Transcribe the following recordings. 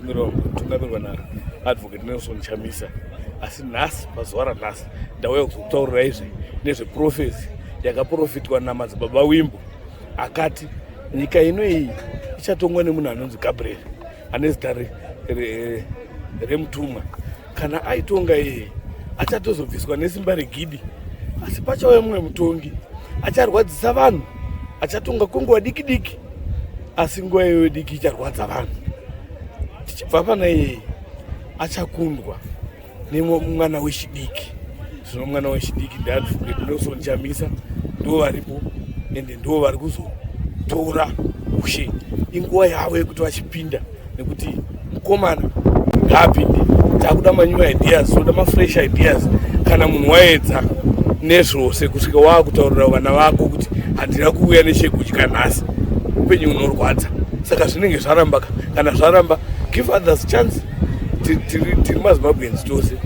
Mirongo tungamirwa na Advocate Nelson Chamisa asi nhasi pazuva ranhasi ndauya kuzokutaurira izvi nezveprofesi yakaprofitwa namadzibaba wimbo akati nyika ino iyi ichatongwa nemunhu anonzi gabriel ane zita remutumwa re, re kana aitonga iye achatozobviswa nesimba regidi asi pachauya mumwe mutongi acharwadzisa vanhu achatonga kwenguva diki diki asi nguva iyoyo diki icharwadza vanhu tichibva pana iyeye achakundwa nemwana wechidiki zvino mwana wechidiki ndiadvocatinosonchamisa ndo varipo ende ndo vari kuzotora ushe inguva yavo yekuti vachipinda nekuti mukomana ngaapinde takuda manew ideas toda mafresh ideas kana munhu waedza nezvose kusvika waakutaurira vana vako kuti handina kuuya nechekudya nhasi upenyu unorwadza saka zvinenge zvarambaka kana zvaramba give others chance tiri mazimbabweans tose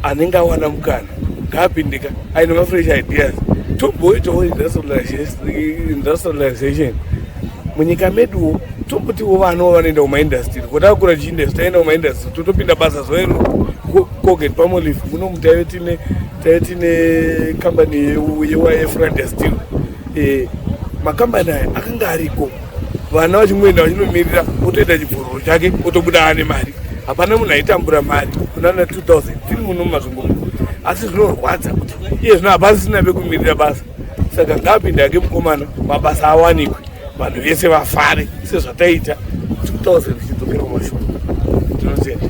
anenge awana mukana ngaapindika aine mafresh ideas tomboitawo industrialization munyika meduwo tombotiwo vanawo vanoenda kumaindastry kotakura chiindastry taenda kumaindastry totopinda basa zoero koget pamolive munomu taive tine taive tine kambani yeyefrandastry eh, makambani aya akanga ariko vana vachingoenda vachinomirira otoita chibvororo chake otobuda ane mari hapana munhu aitambura mari kunana 2000 tiri muno mumazungumo asi zvinorwadza kuti iye zvino hapasisina vekumirira basa saka ngaapinde ake mukomana mabasa awanikwe vanhu vese vafare sezvataita 2000 zvichidzokerwa mashoko tinotenda